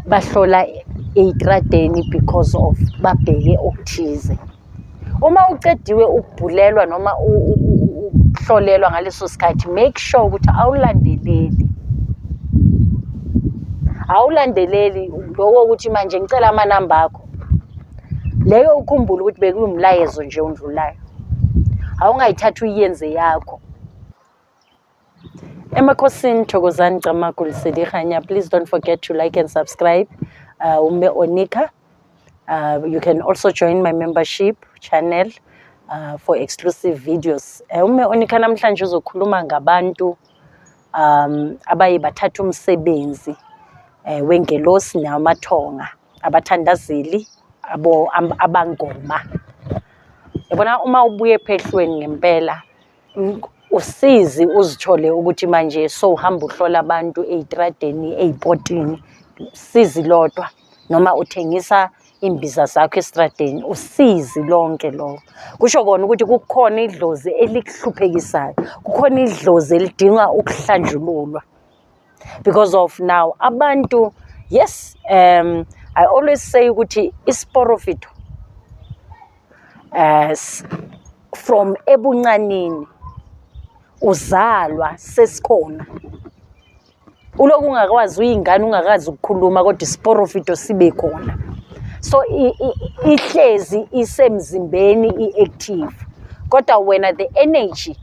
bahlola eyitradeni because of babheke okuthize uma ucediwe ukubhulelwa noma ukuhlolelwa ngaleso sikhathi make sure ukuthi awulandeleli awulandeleli loko ukuthi manje ngicela amanamba akho leyo ukhumbule ukuthi bekuwumlayezo nje ondlulayo awungayithathi uyenze yakho Emakhosini Thokozani Camagu Lesedi Kganya. Please don't forget to like and subscribe uh, Umme Onika. Uh, you can also join my membership channel uh, for exclusive videos. Uh, Umme Onika namhlanje uzokhuluma ngabantu um, abaye bathatha umsebenzi uh, wengelosi namathonga abathandazeli abo am, abangoma yabona uma ubuye phehlweni ngempela usizi uzithole ukuthi manje sowuhamba uhlola abantu ey'tradeni ey'potini sizi lodwa noma uthengisa iy'mbiza zakho esitradeni usizi lonke loko kusho kona ukuthi kukhona idlozi elikuhluphekisayo kukhona idlozi elidinga ukuhlanjululwa. because of now abantu yes um i always say ukuthi isiporofito as from ebuncanini uzalwa sesikhona uloku ungakwazi uyingane ungakazi ukukhuluma kodwa isiporofito sibe khona so ihlezi isemzimbeni i-active kodwa wena the energy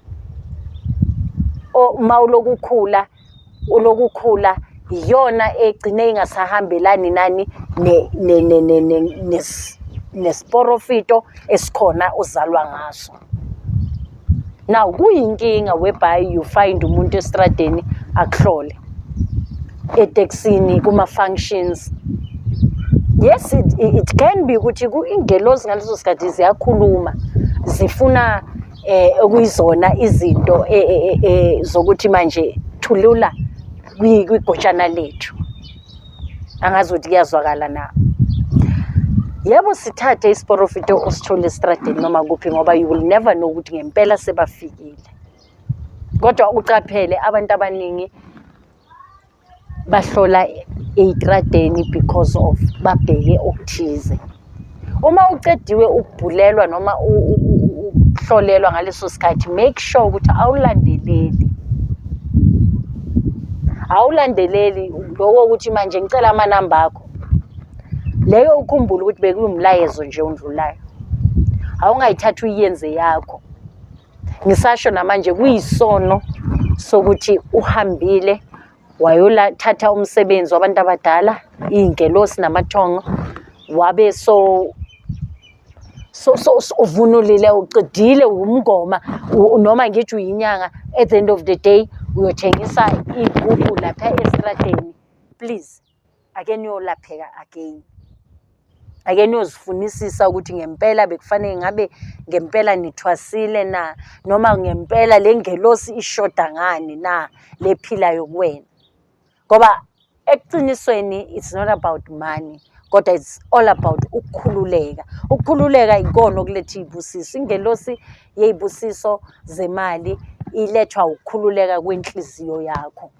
uma uloku ukhula uloku ukhula iyona egcine ingasahambelani nani nesiporofito esikhona uzalwa ngaso now kuyinkinga whereby you find umuntu estradeni akuhlole eteksini kuma-functions yes it, it can be ukuthi ingelosi ngaleso sikhathi ziyakhuluma zifuna eh okuyizona izinto eh, eh, eh, eh zokuthi manje thulula kwigotshana lethu angazi ukuthi kuyazwakala na yebo sithathe isiporofito osithole estradeni noma kuphi ngoba you will never know ukuthi ngempela sebafikile kodwa ucaphele abantu abaningi bahlola eyitradeni because of babheke okuthize uma ucediwe ukubhulelwa noma ukuhlolelwa ngaleso sikhathi make sure ukuthi awulandeleli awulandeleli lokho ukuthi manje ngicela amanamba akho leyo ukhumbule ukuthi bekuwumlayezo nje ondlulayo awungayithathi uyenze yakho ngisasho namanje kuyisono sokuthi uhambile wayolathatha umsebenzi wabantu abadala iy'ngelosi namathongo wabe so so so uvunulile uqedile wumngoma noma ngithi uyinyanga at the end of the day uyothengisa iy'gubhu lapha esitradeni please ake niyolapheka again ake niyozifunisisa ukuthi ngempela bekufanele ngabe ngempela nithwasile na noma ngempela le ngelosi ishoda ngani na lephilayo kuwena ngoba ekuqinisweni it's not about money kodwa it's all about ukukhululeka ukukhululeka ikona okuletha iy'busiso ingelosi yey'busiso zemali ilethwa ukukhululeka kwenhliziyo yakho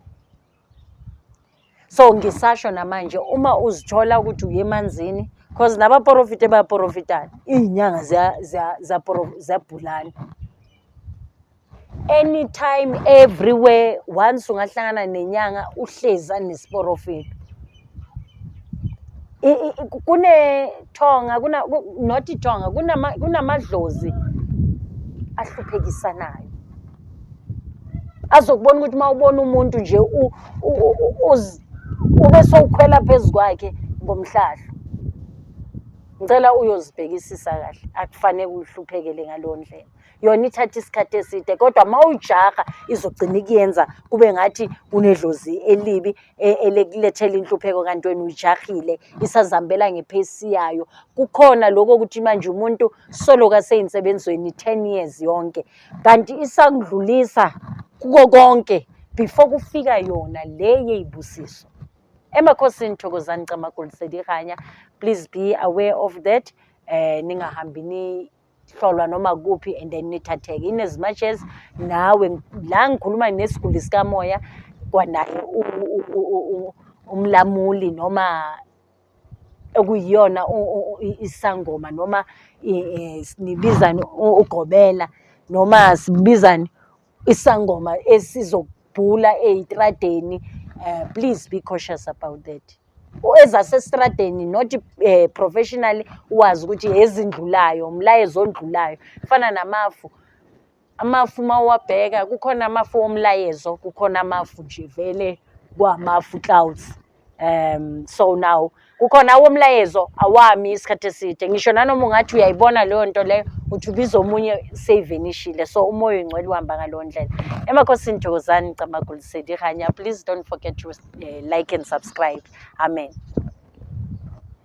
so ngisasho namanje uma uzithola ukuthi uye emanzini cause nabaporofite bayaporofitana iy'nyanga ziyabhulana anytime everywhere once ungahlangana nenyanga uhlezi anesiporofito Kunethonga not ithonga, kunamadlozi ahluphekisanayo. Azokubona ukuthi uma ubona umuntu nje ube sowukhwela phezu kwakhe ngomhlahlo. Ngicela uyozibhekisisa kahle, akufanele uhluphekele ngaleyo ndlela. yona ithatha isikhathi eside kodwa uma ujaha izogcina ikuyenza kube ngathi unedlozi elibi e, elikulethela inhlupheko kanti wena uyijahile isazihambela ngephesi yayo kukhona lokho ukuthi manje umuntu soloka seyinsebenziweni 10 years yonke kanti isakudlulisa kuko konke before kufika yona le yeyibusiso emakhosini thokozani camagulisedi ikanya please be aware of that um ningahambi hlolwa noma kuphi and then nithatheke in as much as nawe la ngikhuluma nesiguli sikamoya kwanaye umlamuli noma okuyiyona isangoma noma nibizani ugobela noma sibizani isangoma esizobhula eyitradeni uh, please be cautious about that ezasesitradeni not uh, eh, professionally wazi ukuthi ezindlulayo umlayezo ondlulayo kufana namafu amafu uma uwabheka kukhona amafu womlayezo kukhona amafu nje vele kwamafu clouds um so now kukhona awomlayezo awami isikhathi eside ngisho nanoma ungathi uyayibona leyo nto leyo uthi ubiza omunye seyivenishile so umoya oyingcwele uhamba ngaleyo ndlela emakhosini thokozani camagulisedi hanya please don't forget to uh, like and subscribe amen